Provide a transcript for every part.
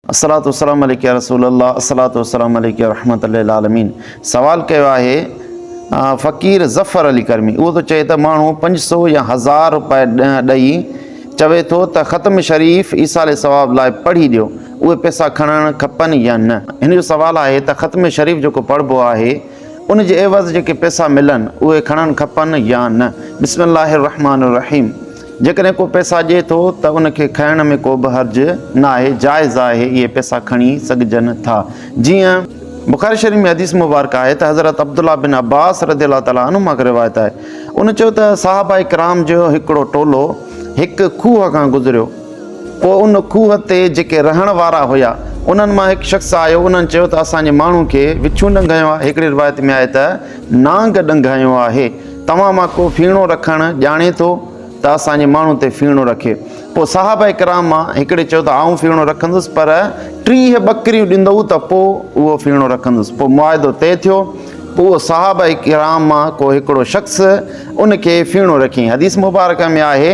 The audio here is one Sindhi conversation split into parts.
الصلوة والسلام عليك يا رسول الله الصلوة والسلام عليك يا رحمة للعالمين سوال ڪيو آهي فقير ظفر علي ڪرمي اهو ٿو چئي ته ماڻهو پنج سو يا هزار روپيا ڏئي چوي ٿو ته ختم شريف ايصال ثواب لاء پڙهي ڏيو اهي پئسا کڻڻ کپن يا نه هن جو سوال آهي ته ختم شريف جيڪو پڙهبو آهي ان جي عيوض جيڪي پئسا ملن اهي کڻڻ کپن يا نه؟ بسم الله الرحمان الرحيم جيڪڏهن ڪو پئسا ڏئي ٿو ته ان کي کڻڻ ۾ ڪو به حرج ناهي جائز آهي اهي پئسا کڻي سگهجن ٿا جيئن بخاري شريف ۾ حديث مبارڪه آهي ته حضرت عبدالله بن عباس رضي الله تعالٰي عنهما کان روايت آهي ان چيو ته صحابه ڪرام جو هڪڙو ٽولو هڪ کوهه کان گذريو پوء ان کوهه تي جيڪي رهڻ وارا هيا، انهن مان هڪ شخص آيو، انهن چيو ته اسان جي ماڻهو کي وڇون ڏنگهايو آهي، هڪڙي روايت ۾ آهي ته نانگ ڏنگهايو آهي، توهان مان ڪو ڦيڻو رکڻ ڄاڻي ٿو ته اسان جي ماڻهو تي ڦيڻو رکي. پوء صحابه ڪرام مان هڪڙي چيو ته آئون ڦيڻو رکندس پر ٽيهه ٻڪريون ڏيندؤ ته پوء اهو ڦيڻو رکندس. پوء معاهدو طئي ٿيو. پوء صحابه ڪرام مان ڪو هڪڙو شخص ان کي ڦيڻو رکيائين. حديث مبارڪه ۾ آهي.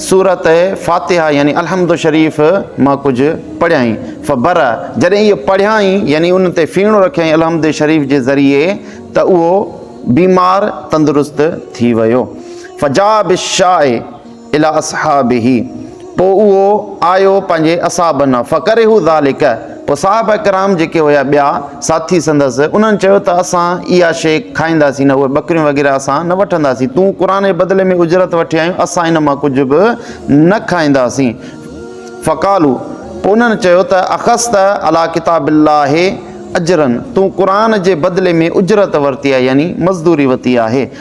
سورت فاتحه يعني الحمد شريف مان ڪجهه پڙهيائين فبر جڏهن اهو پڙهيائين يعني ان تي ڦيڻو رکيائين الحمد شريف جي ذريعي ته اهو بيمار تندرست ٿي ويو فجاء بالشاء الي اصحابه پوء اهو آيو پنهنجي اصحابن فڪرهوا ذلڪ، پوء صحابه ڪرام جيڪي هيا ٻيا ساٿي سندس، انهن چيو ته اسان اها شيء کائينداسين نه، اهي ٻڪريون وغيره اسان نه وٺنداسين، تون قرآن جي بدلي ۾ اجرت وٺي آيون، اسان ان مان ڪجهه به نه کائينداسين. فقالوا، پوء انهن چيو ته اخذت علي ڪتاب الله اجرا، تون قرآن جي بدلي ۾ اجرت ورتي آهي يعني مزدوري وتي آهي.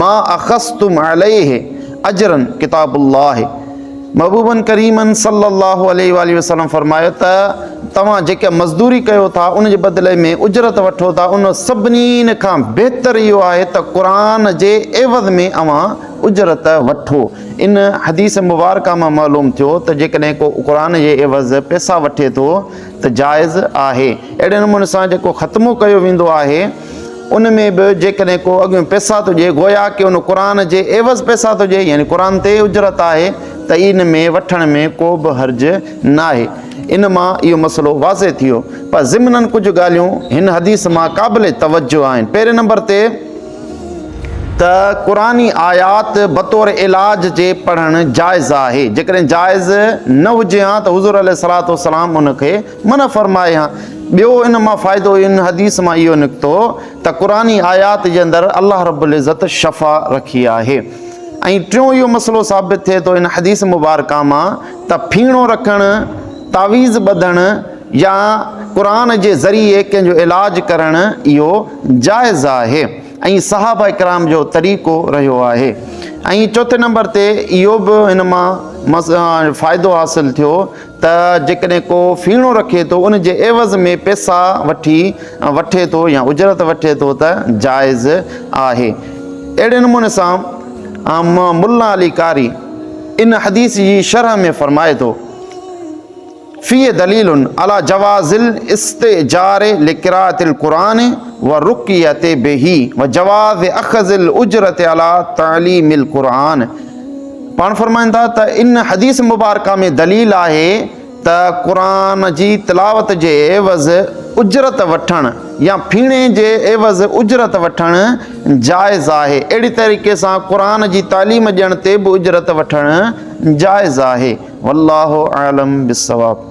ما اخذتم عليه اجرا ڪتاب الله محبوبن ڪريمن صلي الله عليه واٰله وسلم فرمايو ته توهان جيڪا مزدوري ڪيو ٿا ان جي بدلي ۾ اجرت وٺو ٿا ان سڀنين کان بهتر اهو آهي ته قرآن جي عيوض ۾ اوهان اجرت وٺو ان حديث مبارڪه مان معلوم ٿيو ته جيڪڏهن ڪو قرآن جي عيوض پيسا وٺي ٿو ته جائز آهي اهڙي نموني سان جيڪو ختمو ڪيو ويندو آهي ان ۾ به جيڪڏهن ڪو اڳ ۾ پئسا ٿو ڏئي گويا ڪي ان قرآن جي عيوض پئسا ٿو ڏئي يعني قرآن تي اجرت آهي ته ان ۾ وٺڻ ۾ ڪو به حرج ناهي ان مان اهو مسئلو واضح ٿيو پر ضمنن ڪجهه ڳالهيون هن حديث مان قابل توجه آهن پهرين نمبر تي ته قرآني آيات بطور علاج جي پڙهڻ جائز آهي جيڪڏهن جائز نه هجي ها ته حضور عليه الصلاة والسلام ان کي منع فرمائي ها. ٻيو ان مان فائدو ان حديث مان اهو نڪتو ته قرآني آيات جي اندر الله رب العزت شفا رکي آهي ۽ ٽيون اهو مسئلو ثابت ٿئي ٿو ان حديث مبارڪه مان ته ڦيڻو رکڻ، تعويذ ٻڌڻ يا قرآن جي ذريعي ڪنهن جو علاج ڪرڻ اهو جائز آهي ۽ صحابه ڪرام جو طريقو رهيو آهي ۽ چوٿين نمبر تي اهو به ان مان فائدو حاصل ٿيو ته جيڪڏهن ڪو ڦيڻو رکي ٿو ان جي عيوض ۾ پيسا وٺي وٺي ٿو يا اجرت وٺي ٿو ته جائز آهي اهڙي نموني سان ملا علي قاري ان حديث جي شرح ۾ فرمائي ٿو فيه دليل على جواز الاستئجار لقراءة القرآن والرقية به وجواز اخذ الاجرة على تعليم القرآن پاڻ فرمائن ٿا ته ان حديث مبارڪه ۾ دليل آهي ته قرآن جي تلاوت جي عيوض اجرت وٺڻ يا ڦيڻي جي عيوض اجرت وٺڻ جائز آهي اهڙي طريقي سان قرآن جي تعليم ڏيڻ تي به اجرت وٺڻ جائز آهي والله اعلم بالصواب